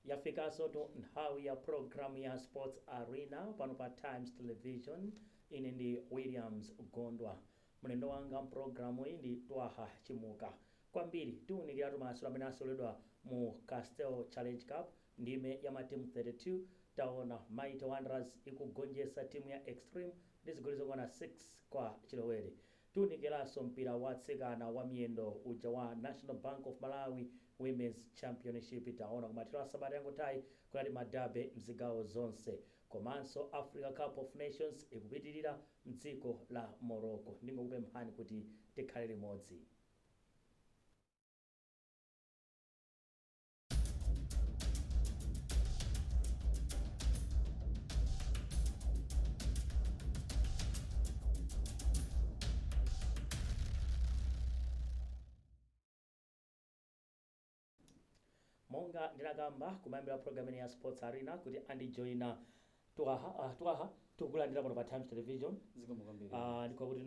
yafikansotu nthawi ya programu ya sports arena pano pa times television ine ndi williams gondwa mlendo wanga mpulogalamu iyi ndi twaha chimuka kwambiri tiunikiratu masewero amene aseweredwa mu castle challenge cup Ndime ya matimu 32, taona Mighty Wanderers ikugonjetsa timu ya Extreme ndi zigoli zokwana 6 kwa chilowere. Tiunikiranso mpira wa atsikana wa miyendo uja wa National Bank of Malawi Women's Championship. Taona kumathero a sabata yangothayi kunali ma Derby mzigawo zonse. Komanso Africa Cup of Nations ikupitilira mdziko la Morocco. Ndingokupemphani kuti tikhale limodzi. monga ndinakamba kumayambiriro a program ino ya sports arena kuti andijoyina twaha ah, twaha tikukulandira pano pa times television zikomo kwambiri Ah, ndi kwakuti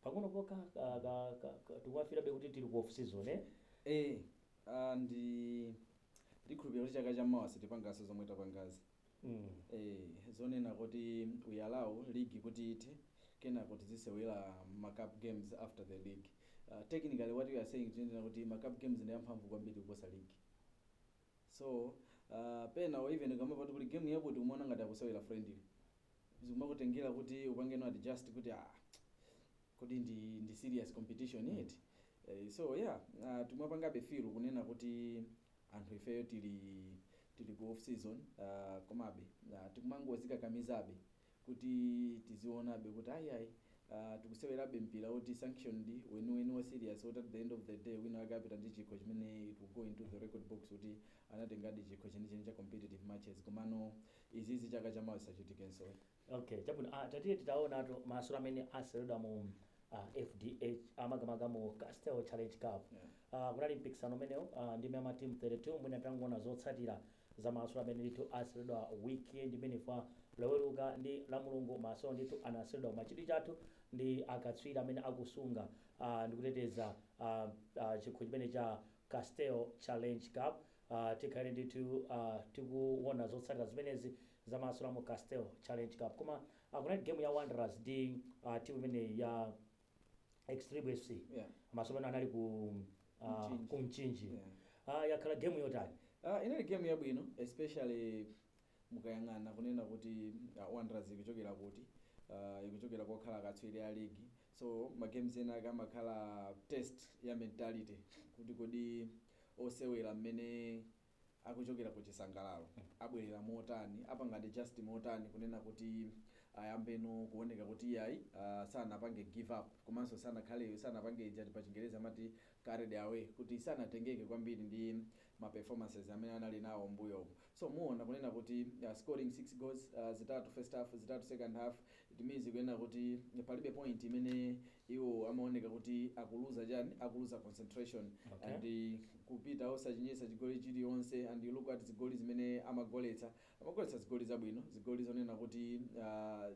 pang'onopokha tikumafilabe kuti tili ku off season eh eh Aaa ndi ndikukhulupirira kuti chaka cha mawa sitipangaso zomwe tapangazi ee zonena kuti we allow league kuti ithe kenako tizisewela ma cup games after the league technically what we are saying is kuti ma cup games ndi amphamvu kwambiri kuposa league so aah pena or even ukamamvatu kuti game yakuti ukumaona ngati akusewera friendly zikumakutengera kuti upange adjust kuti aah kodi ndi ndi serious competition eti eh, so yeah uh, tikumapangabe feel kunena kuti anthu ifeyo tili tili ku off season uh, komabe uh, tikumangozikakamizabe kuti tizionabe kuti ayiayi uh, tikusewerabe mpira woti sanctioned weniweni wa serious woti at the end of the day wina wake apita ndi chikho chimene it will go into the record books kuti anatengadi chikho chenicheni cha competitive matches komano izizi chaka chamawa zisachitikenso Ok chabwino a tatiye titawonatu masewero amene aseweredwa mu a fdh a makamaka mu Castle challenge cup a kunali mpikisano umenewu a ndime ya ma team 32 mwina titangowona zotsatira za masewero amene ndithu aseweredwa weekend imeneyi ya loweruka ndi lamulungu masewero ndithu anaseweredwa koma chidwi chathu ndi akatswiri amene akusunga a ndikuteteza a a chikho chimenechi cha Castle challenge cup a tikhale ndithu a tikuwona zotsatira zimenezi Zamasula mu Castel challenge cup koma kunali game ya Wanderers ndi uh, team imeneyi ya Extreme FC yeah. masewero amene anali ku uh, ku Mchinji yeah. uh, yakhala game yotani uh, inali game yabwino especially mukayang'ana kunena kuti uh, Wanderers ikuchokera kuti uh, ikuchokera kokhala akatswiri a ligi so ma games ena akamakhala test ya mentality kuti kodi osewera mmene akuchokera ku chisangalalo abwerera motani apanga adjust motani kunena kuti ayambeno kuoneka kuti iyayi uh, sanapange give up komanso sanakhale sanapange ijati pa chingereza amati carried away kuti sanatengeke kwambiri ndi ma performances amene anali nawo mbuyomu so muona kunena kuti uh, scoring 6 goals uh, zitatu first half zitatu second half It means kunena kuti palibe point imene iwo amaoneka kuti akuluza chani akuluza concentration okay. and kupita osachinyisa chigoli chilionse and you look at zigoli zimene amagoletsa amagoletsa zigoli zabwino zigoli zonena kuti uh,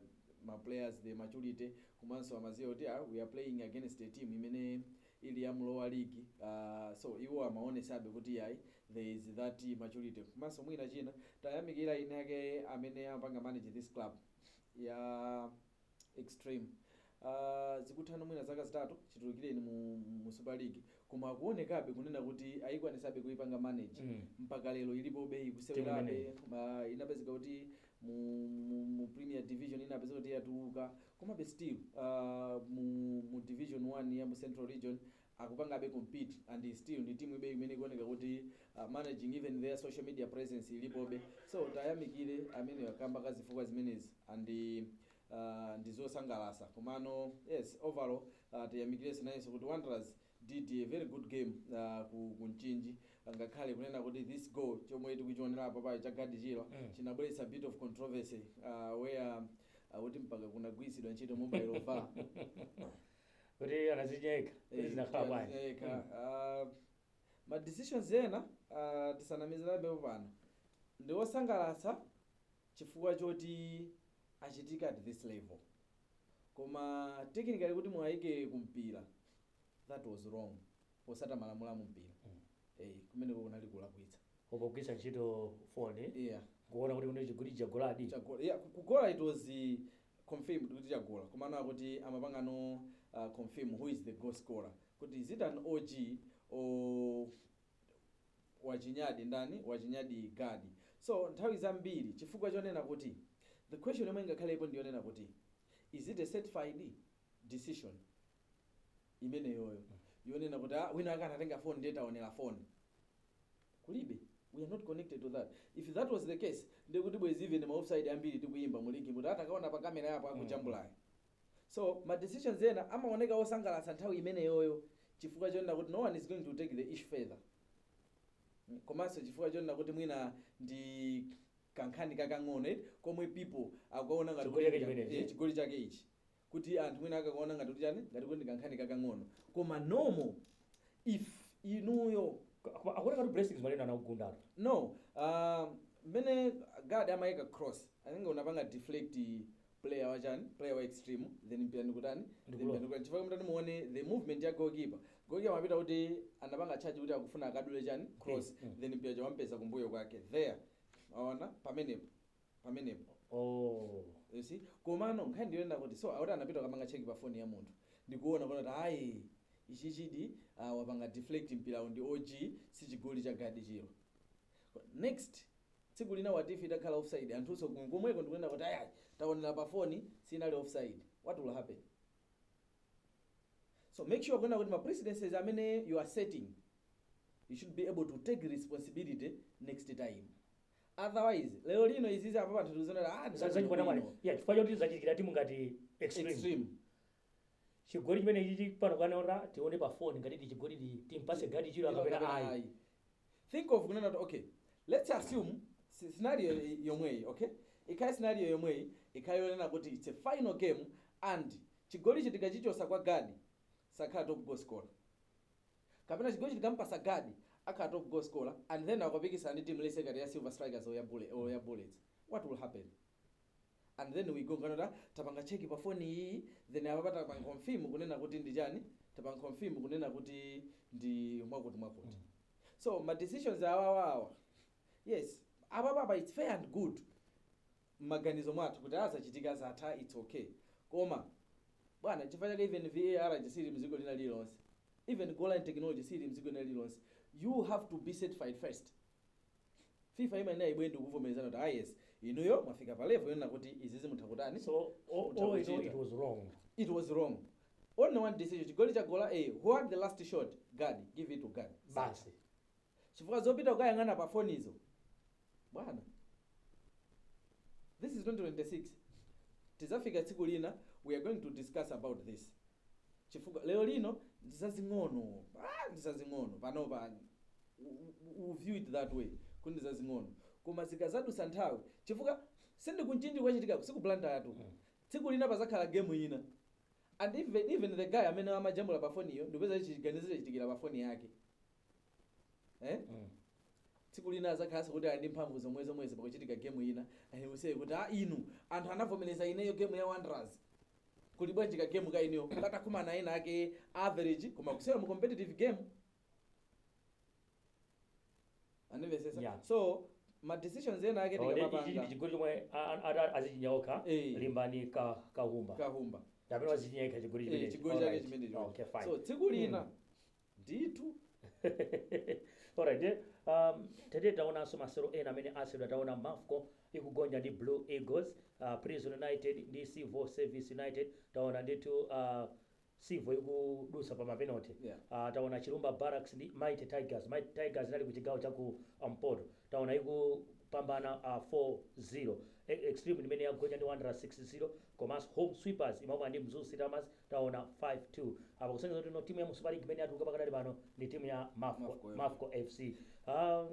ma players the maturity komanso amaziwa kuti ah, we are playing against a team imene ili ya lower league uh, so iwo amaonesabe kuti yayi there is that maturity komanso mwina china tayamikira eni ake amene amapanga manage this club ya extreme uh, zikuthatu mwina zaka zitatu chitulukireni mu, mu super league koma kuonekabe kunena kuti ayikwanisabe kuipanga manage Mm. mpaka lero ilipobe ikusewerabe. uh, inapezeka kuti mu, mu, mu premier division inapezeka kuti yatuluka komabe still uh, mu, mu division 1 ya mu central region akupangabe compete and still ndi teambe imene ikuoneka kuti managing even their social media presence ilipobe so tayamikire amenewa kamba ka zifukwa zimenezi and ndizosangalasa komano yes overall tiyamikirenso nayenso kuti Wanderers did a very good game ku, ku Mchinji ngakhale kunena kuti this goal chomwe tikuchionera apa pa cha Gadi Chirwa chinabweretsa a bit of controversy uh, where akuti mpaka kunagwiritsidwa ntchito mobile var kuti akazinya yekha kuti zinakhala bwanji ma decisions ena ah, tisanamizanepo pano ndi osangalatsa chifukwa choti achitika at this level koma technically kuti mwayike kumpira that was wrong potsata malamulo a mumpira Mm. eh, kumeneko kunali kulakwitsa ukugwiritsa ntchito foni yeah. kuona kuti kune chigoli chagoladi Chago- yeah, ku- kugola it was eh, confirmed kuti chagola komano akuti amapangano confirm who is the goal scorer kuti is it an OG or wachinyadi ndani wachinyadi gadi so nthawi zambiri chifukwa chonena kuti the question yomwe ingakhalepo ndiyonena kuti is it a certified decision imeneyoyo yonena kuti ah, wina wake akanatenga phone ndiye taonera phone kulibe we are not connected to that if that was the case ndiye kuti bwezi even ma offside ambiri tikuyimba mu ligi but atakaona pa kamera yapo akujambulayo so ma decisions zina amaoneka osangalatsa nthawi imeneyoyo chifukwa chonena kuti no one is going to take the issue further Mm, komanso chifukwa chonena kuti mwina ndi kankhani kakang'ono eti komwe people akuona ngati Chigoli chake kuti- chimenechi. eh, chigoli chake ichi kuti anthu mwina akakaona ngati kuti chani ngati kuti ndikankhani kakang'ono koma normal if inuyo Koma akuona kuti blessings malena anakugundatu no um, mmene gad amaika cross and then anapanga deflect player wachani player wa extreme then mpira ndikutani Ndikulowa. ndikutani chifukwa mutati muone the movement ya goalkeeper goalkeeper amapita kuti anapanga charge kuti akufuna akadule chani cross Mm, mm. then mpira chowampeza kumbuyo kwake there aona pamenepo pamenepo oh you see komano nkhani ndiyonena kuti so akuti anapita kukapanga check pa phone ya munthu ndikuona kuona kuti ayi ichichidi ah, wapanga deflect mpirawu ndi og sichigoli cha gadi chiro next tsiku lina what if itakhala offside anthunso kum- komweko ndikunena kuti ayayi taonera pa foni sinali offside what will happen so make sure kunena kuti ma precedences amene you are setting you should be able to take responsibility next time otherwise lero lino izizi apa anthu tikuziona ah Za- zachikwata mwali ndizabwino. ya chifukwa choti zachitikira timu ngati extreme extreme chigoli chimenechichi pano akanaona tione pa phone ngati ndi chigoli ndi timpase gadi chiro kapena ayi think of kunena kuti okay let's assume si- scenario y- yomweyi okay ikhale scenario yomweyi ikhale yonena kuti it's a final game and chigoli tikachichosa kwa gadi sakhala top goal scorer kapena chigoli tikamupasa gadi akhala top goal scorer and then akapikisana ndi team let's say ngati ya silver strikers or ya bulle or ya bullets what will happen and then we go kunena kuti ah tapanga check pa phone iyi then apapa tapanga confirm kunena kuti ndi chani tapanga confirm kunena kuti ndi mwakuti mwakuti so ma decisions awawa awa yes apapa apa it's fair and good mmaganizo mwathu kuti aah zachitika zatha its ok koma bwana nchifukwa chake even VAR siili mziko lina lililonse even goal line technology siili mziko lina lililonse you have to be certified first fifa imayenera ibwere ndikuvomerezana kuti ah yes inuyo mwafika pa level yonena kuti izizi mutha kutani so all, Mutha all in all, kuchita. it was wrong it was wrong only one decision chigoli chagola a who had the last shot gad give it to gad basi chifukwa zopita kukayang'ana pa fonizo bwana this is 2026 tizafika tsiku lina we are going to discuss about this chifukwa lero lino ndizazing'ono ah, ndizazing'ono panopa u view it that way kuti ndizazing'ono koma zikazadusa nthawi chifukwa sindikuchinja kwachitikako sikupulantaya tu tsiku lina pazakhala gemu ina and even, even the guy amene amajambula pa foniyo ndikupeza chiganizo chitikira pa foni yake eh? Mm. tsiku lina azakhalanso kuti ali ndi mphamvu zomwe zomwezi pakuchitika gemu ina awauze kuti a inu anthu anavomereza ineyo gemu ya wanderers kuli bwanji ka gemu ka ineyo katakumana ena ake average koma kusera mu competitive game andimvesesa Yeah. so ma decisions ena ake Oh, ndi- ichi ndi tikamapanga chigoli chomwe a- a- a- adzichinya okha Eh. limbani ka- kahumba kahumba kapena wadzichinya yekha chigoli Eh, chimenechi. chigoli chake Alright. chimenecho Okay, fine. so tsiku lina Mm. ndithu alright ndiye um, tete taonanso masero ena amene aseweredwa taona mafco ikugonja ndi blue eagles uh, prison united ndi civil service united taona ndithu uh, civil ikudusa pa mapenalty Yeah. uh, taona chilumba barracks ndi mighty tigers mighty tigers inali ku chigawo cha ku mpoto taona ikupambana uh, 4-0 E- extreme imene yagonja ndi wanderers 6-0 komanso home sweepers imamwa ndi mzuzu city hammers Taona 5 2 apa kusonyeza kuti no timu ya mu Super League imene yatuluka pakadali pano ndi timu ya Mafco Mafco, yeah. Mafco FC. Ah,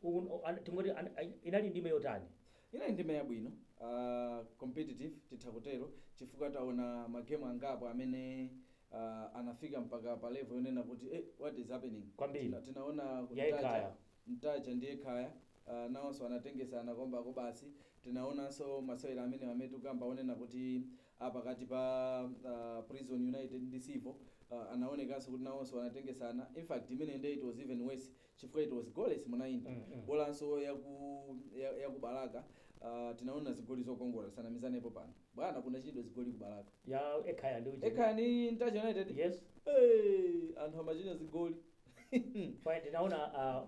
uku- o- an- tingoti an- ai- inali ndime yotani? inali ndime yabwino uh, competitive titha kutero chifukwa taona magemu angapo amene uh, anafika mpaka pa level yonena kuti eh, what is happening Kwambiri. Tina- tinaona Ya Ntaja- Ekhaya. ntaja ndi ekhaya uh, nawonso anatengesana kombako basi tinaonanso masewero amene amene tukamba onena kuti a pakati pa a Prison United ndi Civil a anaonekanso kuti nawonso anatengesana, in fact imeneyi nde it was even worse chifukwa it was goalless mu 90, bolanso yaku ya ya ku Balaka a tinaona zigoli zokongola tisanamizanepo pano. Bwana kunachinyidwa zigoli ku Balaka. ya ekhaya ndi uje Ekhaya ndi Ntaja United? yes Hey, anthu amachinya zigoli. Fine, ndinaona ah,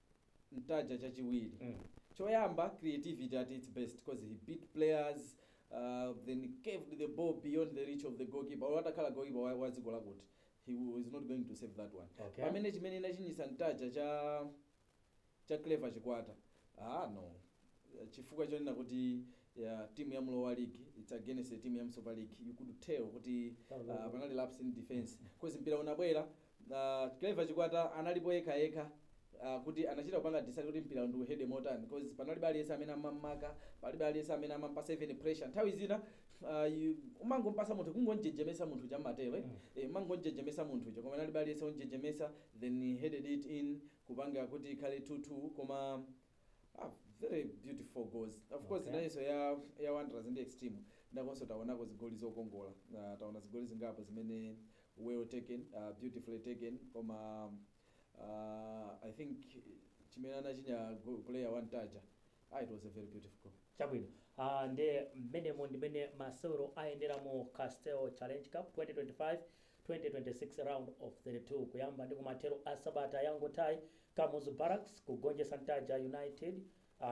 ntaja chachiwiri choyamba creativity at its best because he beat players uh, then curved the ball beyond the reach of the goalkeeper olo atakhala goalkeeper wa, wa dziko lakuti he w- was not going to save that one Okay. pamene chimene inachinyitsa ntaja cha cha clever chikwata ah no chifukwa chonena kuti ya timu ya mu lower league its against the timu ya mu super league you could tell kuti uh, panali lapse in defense because mpira unabwera A Clever Chikwata analipo yekha yekha a kuti anachita kupanga decide kuti mpirawu ndiuhede motani coz panalibe aliyense amene amam'maka, palibe aliyense amene amampasa even pressure nthawi zina ah umangompasa munthu kungomjejemesa munthu uja mmatero eti eh umangomjejemesa munthu uja koma analibe aliyense omjejemesa then he headed it in kupanga kuti ikhale 2 2 koma ah very beautiful goals of course Okay. inayonso ya ya Wanderers ndi Extreme nakonso taonako zigoli zokongola ah taona zigoli zingapo zimene well taken beautifully taken koma uh, i think chimene anachinya go- player wa ntaja ah, it was a very beautiful goal chabwino uh, ndi mmenemo ndimene masewero ayendera mu castel challenge cup 2025 2026 round of 32 kuyamba ndi kumathero a sabata yangotayi kamuzu barracks kugonjetsa ntaja united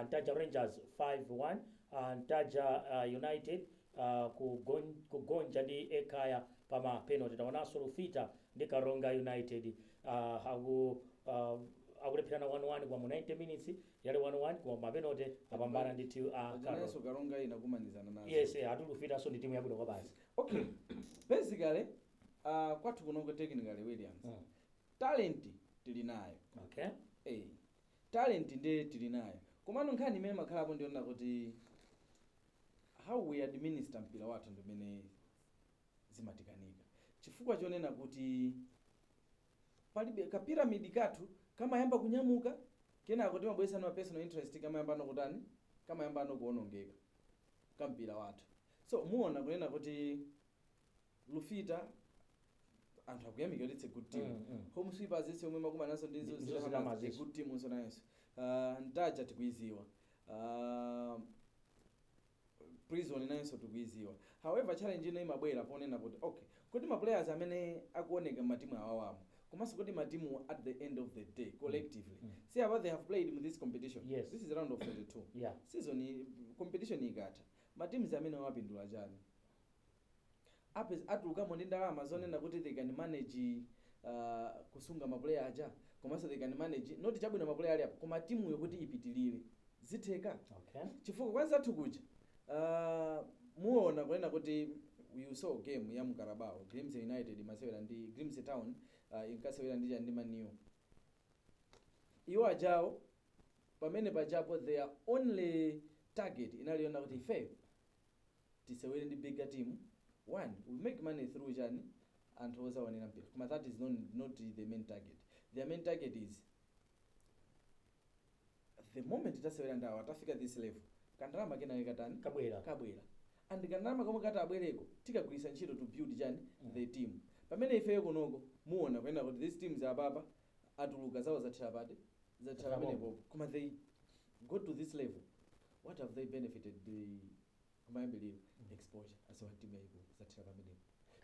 Ntaja Rangers 5 1 Ntaja United kugonja ndi Ekhaya pa ma penalty. Taonanso Lufita ndi Karonga United akulepherana 1 1 koma mu 90 minutes yali 1 1 koma ma penalty apambana ndi a Karonga. Karonga inakumanizana nazo. Yes, eh, ati Lufitanso ndi timu yabwino kwabasi. Okay. Basically, uh, kwathu kunoko technically Williams. Mm. Talent tili nayo. Okay. Eh. Talent nde tili nayo komano nkhani imene imakhalapo ndiyonena kuti how we administer mpira wathu ndimene zimatikanika chifukwa chonena kuti palibe ka pyramid kathu kamayamba kunyamuka kenako timabweretsano ma personal interest kamayambano kutani kamayambano kuonongeka ka mpira wathu so mumaona kunena kuti lufita anthu akuyamikira kuti it's a good team Mm, mm. home sweepers ija imene imakumana nazo ndi Ndi- Mzuzu Mzuzu Hammers, Hammers, a yes. good team'nso nayenso uh, ntaja tikuiziwa uh, prison nayenso tikuiziwa however challenge ino imabwera ponena kuti okay kodi ma players amene akuoneka matimu awawamo komanso kodi matimu at the end of the day collectively Mm. see how they have played in this competition Yes. this is round of 32 yeah season iyi- competition ikatha matimu amenewa apindula chani Apeza, atulukamo ndi ndalama zonena kuti they can manage uh, kusunga ma player aja komanso they can manage not chabwino ma player ali apa koma timuyo kuti ipitilire zitheka Okay. chifukwa kwa anzathu kuja uh, muona kunena kuti you saw game ya mu Carabao Grimsby United imasewera ndi Grimsby Town uh, inkasewera ndi chani ndi Man U iwo ajawo pamene pajapo their only target inali yonena kuti ifeyo tisewere ndi bigger team one will make money through chani anthu ozaonera mpira koma that is not not the main target their main target is the moment tasewera ndi awa tafika this level kandalama kenake katani kabwera and kandalama komwe kati abwereko tikagwiritsa ntchito to build chani the team pamene ifeyo kunoko muona kuyenda kuti these teams apapa atuluka zawo zathera pati zathera pamenepopo koma they go to this level what have they benefited the kumayambiliro exposure as a team yayiko zathera pamenepo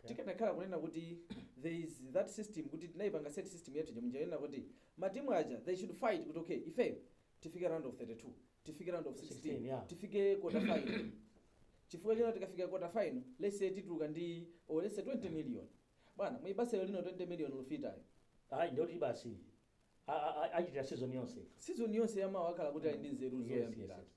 tikanakhala kunena kuti there is that system kuti tinaipanga set system yathu jamunja yonena kuti matimu aja they should fight kuti okay ifeyo tifike round of 32 tifike round of 16, 16, yeah. tifike quarter final chifukwa chino tikafika quarter final let's say tituluka ndi or let's say 20 million bwana mu Bazero lino 20 million lufitayo ayi ndoti basi a- a- a- achitira season yonse yamawa akhala kuti ali ndi nzeru Yes, zoyambiratu yes,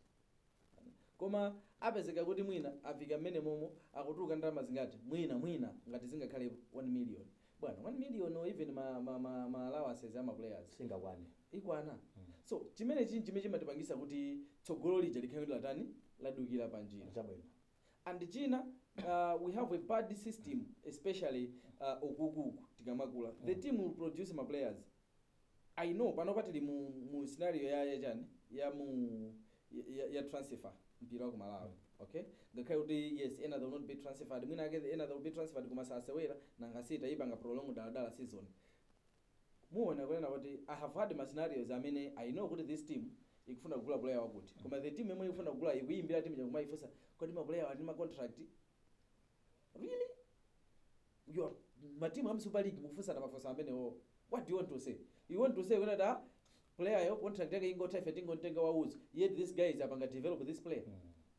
koma apezeka kuti mwina afika mmene momo akutuluka ndalama zingati mwina mwina ngati zingakhale 1 million bwana 1 million or even ma, ma, ma, ma allowances ama players singakwane ikwana so chimene chini chimene chimatipangitsa kuti tsogolo lija likhale latani ladukira panjira chabwino And china uh, we have a bad system especially uh, ukuku uku tikamakula the team will produce ma players i know panopa tili mu, mu scenario ya ya chani ya mu ya, ya transfer mpira wa ku malawi okay ngakhale kuti yes ena they will not be transferred mwina ake ena they will be transferred koma sasewera nanga si taipanga prolong dala dala season Muona kunena kuti I have had ma scenarios amene I know kuti this team ikufuna kugula player wakuti koma the team yomwe ikufuna kugulayo ikuiyimbira team ija nkumaifunsa kodi ma player awa ali ndi ma contract? Really? Your ma team a mu Super League mukufunsana mafunso amenewo. What do you want to say? You want to say kunena kuti ah, player yo contract yake ingotha ife tingomtenga waulere yet these guys apanga develop this player.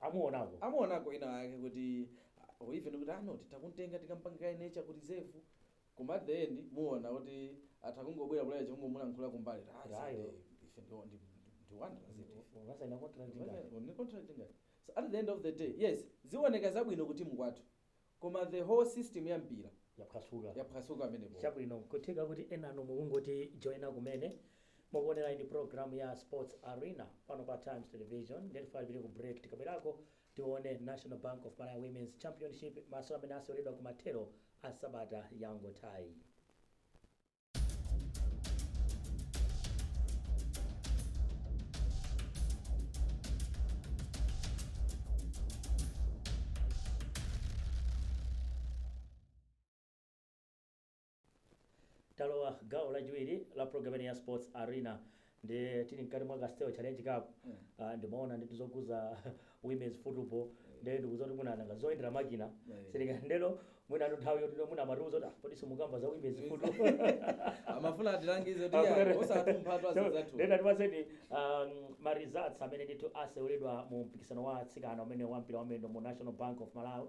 amuonako amuonako ina ake kuti ah, or even kuti anoti takumtenga tikampange kaye nurture ku reserve koma at the end muona kuti atangobwera player nkungomulankhula kumbali Ah, Ayo. sande, ife ndi- ndi- ndi- ndi wanderers eti. ungasaina contract ngati Ni contract ngati. So at the end of the day yes ziwoneka zabwino kuti mukwata Koma the whole system ya mpira yaphwasuka pamenepopo. Chabwino, nkutheka kuti enanu mukungotijoina kumene. Mukuonerayi ndi program ya Sports Arena pano pa Times Television. Nde tifalipire ku break tikabwerako tione National Bank of Malawi Women's Championship masewera amene aseweredwa kumathero a sabata yangothayi. talowa gawo lachiwiri la programu ya sports arena Ndiye tili mkati mwa Castel Challenge Cup, ah, ndimaona ndithu zokhudza women's football, ndiye ndikudziwa kuti mwina nanga zoyendera makina, sitika ndeno mwina athu nthawi yoti mwina amatiuza kuti ah, kodi simukamba za women's football. amafuna atilangize kuti ya, osatumpha tu azizathu Then tiuzeni um, ma results amene ndithu aseweredwa mu mpikisano wa atsikana umene wa mpira wa miyendo mu National Bank of Malawi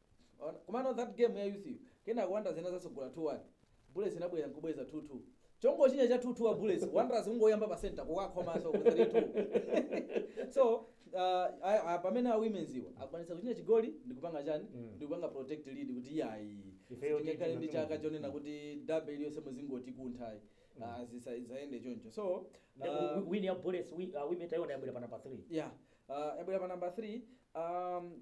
Ona, komano that game ya youth yo kenako wanderers inadzatsogola 2 1 bullets inabwera nkubweza 2 2 chongochinya cha 2 2 wa bullets wanderers kungoyamba pa center kukakhomanso 3 2 so uh, a- a- pamene a women's iwo akwanisa kuchinya chigoli ndikupanga chani Mm. ndikupanga protect lead kuti yayi Ifeyo tingakhale ndi tichina chaka timu. chonena kuti derby iliyonse muzingoti kunthayi Ah, zisa- zisayende choncho so uh, win ya bullets wi- uh, women taiona yabwera pana pa 3 yeah uh, yabwera pa number 3 um,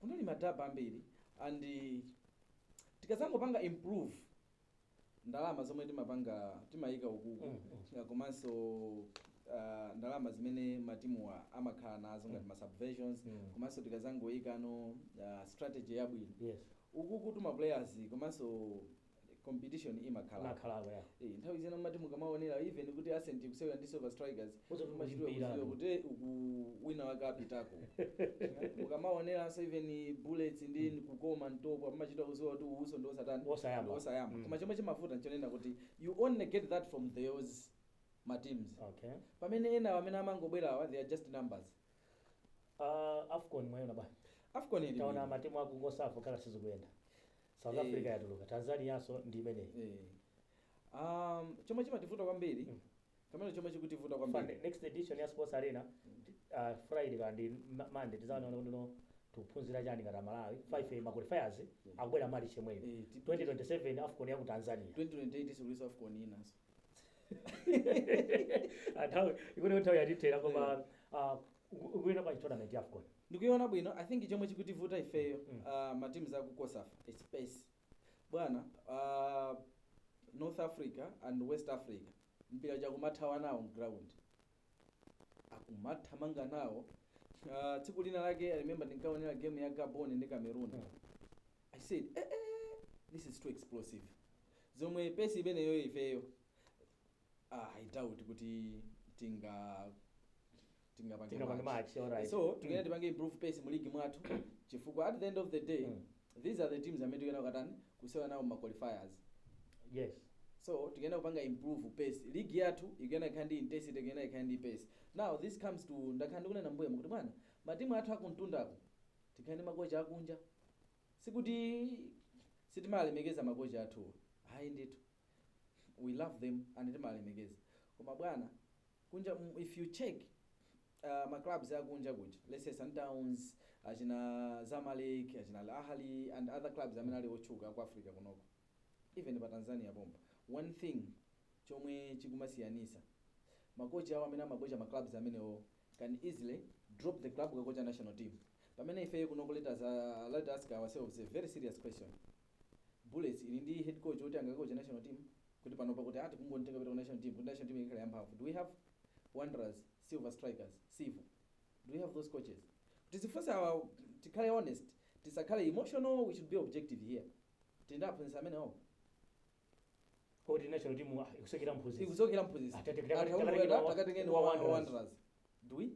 kunali ma derby ambiri and tikadzangopanga improve ndalama zomwe timapanga timayika ukuku Mm, mm. uh, komanso uh, ndalama zimene matimuwa amakhala nazo ngati ma subventions Mm. komanso tikadzangoyikano uh, strategy yabwino yes ukuku tima players komanso competition imakhala Imakhalako, yeah. eh nthawi zina mumati mukamaonera even kuti ascent ikusewera ndi silver strikers Kudziwa kuti machitidwe mpira. kudziwa kuti eh, uku wina wake apitako mukamaoneranso even bullets ndi kukoma ntopwa umachita kudziwa kuti uyunso ndi osatani Osayamba. ndi osayamba Mm. koma chomwe chimavuta nchonena kuti you only get that from those ma teams okay pamene ena amene amangobwerawa they are just numbers uh, afcon mwayona bwana afcon ili taona bwino. matimu aku cosafa kale sizikuyenda south Eh. africa yatuluka tanzanianso ndi imeneyi Eh. Um, chomwe chimativuta kwambiri Mm. kamene chomwe chikutivuta Fund- kwambiri next edition ya sports arena uh, friday kaya ndi Ma- monday tidzaona kuti kuno tikuphunzira chani ngati amalawi 5 ma qualifiers akubwera march yemweyu Eh, ti- 2027 afcon ya ku tanzania 2028 si kulinso afcon inanso nthawi ikuti nthawi yatithera koma uh, Ukuiona bwanji tournament ya afcon? Ndikuiona bwino, I think chomwe chikutivuta ifeyo aah ma teams aku cosafa it's pace bwana aah north africa and west africa mpira uja akumathawa nawo mground akumathamanga nawo aah tsiku lina lake I remember ndinkaonera game ya gabon ndi cameroon I said eeh this is too explosive zomwe pace imeneyoyo ifeyo ah, I doubt kuti tinga tingapange Tingapange match. match, alright. so Mm. tikuyenera tipange improve pace mu league mwathu chifukwa at the end of the day Mm. these are the teams amene tikuyenera kutani kusewera nawo ma qualifiers yes so tikuyenera kupanga improve pace league yathu ikuyenera ikhale ndi intensity ikuyenera ikhale ndi pace now this comes to ndakhala ndikunena mbuyemu kuti bwana matimu athu akumtundako tikhale ndi makocha akunja sikuti sitimalemekeza makocha athuwa ayi ndithu we love them and timalemekeza koma bwana kunja mm, if you check uh, ma clubs akunja kuja let's say Sundowns achina Zamalek achina Al Ahly and other clubs amene ali otchuka ku Africa kunoko even pa Tanzania pompa one thing chomwe chikumasiyanisa makochi awo amene amakocha ma clubs amenewo can easily drop the club kukakocha national team pamene ifeyo kunoko let us, uh, let us ask ourselves a very serious question Bullets ili ndi head coach oti angakoche national team? Kuti panopa kuti aah tikungomtenga kupita ku national team kuti national team ikhala yamphamvu do we have? Wanderers, Silver Strikers, Civil do we have those coaches? Tizifunsa tikhale honest tisakhale emotional we should be objective here tili ndi aphunzitsi amenewo? Woti national team ah, ikusokera mphunzitsi. Ikusokera mphunzitsi. Atate kutaka- Anthu takatengeni akubwera, wa- takatengeni wa wa Wanderers. Wanderers. Do we?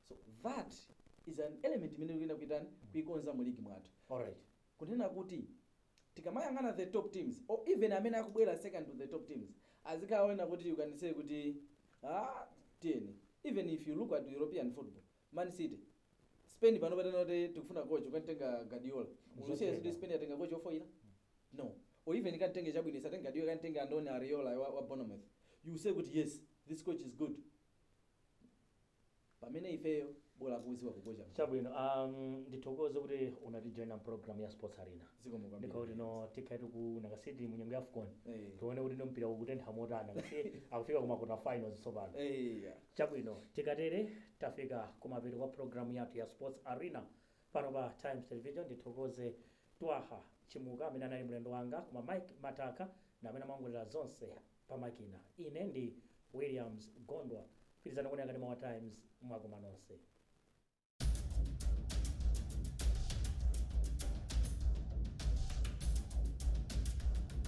So that is an element imene tikuyenera kuitani kuikonza mu ligi mwathu. Alright. kunena kuti tikamayang'ana the top teams or even amene akubwera second to the top teams azikaona kuti you can say kuti ah tiyeni even if you look at european football Man city, spain pano patanena kuti tikufuna coach kukamtenga guardiola mukudziwa kuti spain yatenga coach ofoila? No. Or even ikamtenge chabwino isatenge guardiola ikamtenge Andoni Iraola wa wa Bournemouth you say kuti yes this coach is good pamene ifeyo bola akudziwa kukocha munthu. chabwino um, ndithokoze kuti unatijoina mu program ya sports arena Zikomo kwambiri. ndikaona kuti no tikha tikunaka siti munyengo ya afcon Eh. tione kuti no mpira ukutentha motana kasi akufika kuma quarter finals tsopano Eya. Chabwino, tikatere tafika kumapeto kwa programme yathu ya Sports Arena pano pa Times Television. Ndithokoze Twaha Chimuka amene anali mlendo wanga, koma Mike Mataka ndi amene amaongolera zonse pa makina. Ine ndi Williams Gondwa. Pitirizani kuonera kanema wa Times mwakoma nonse.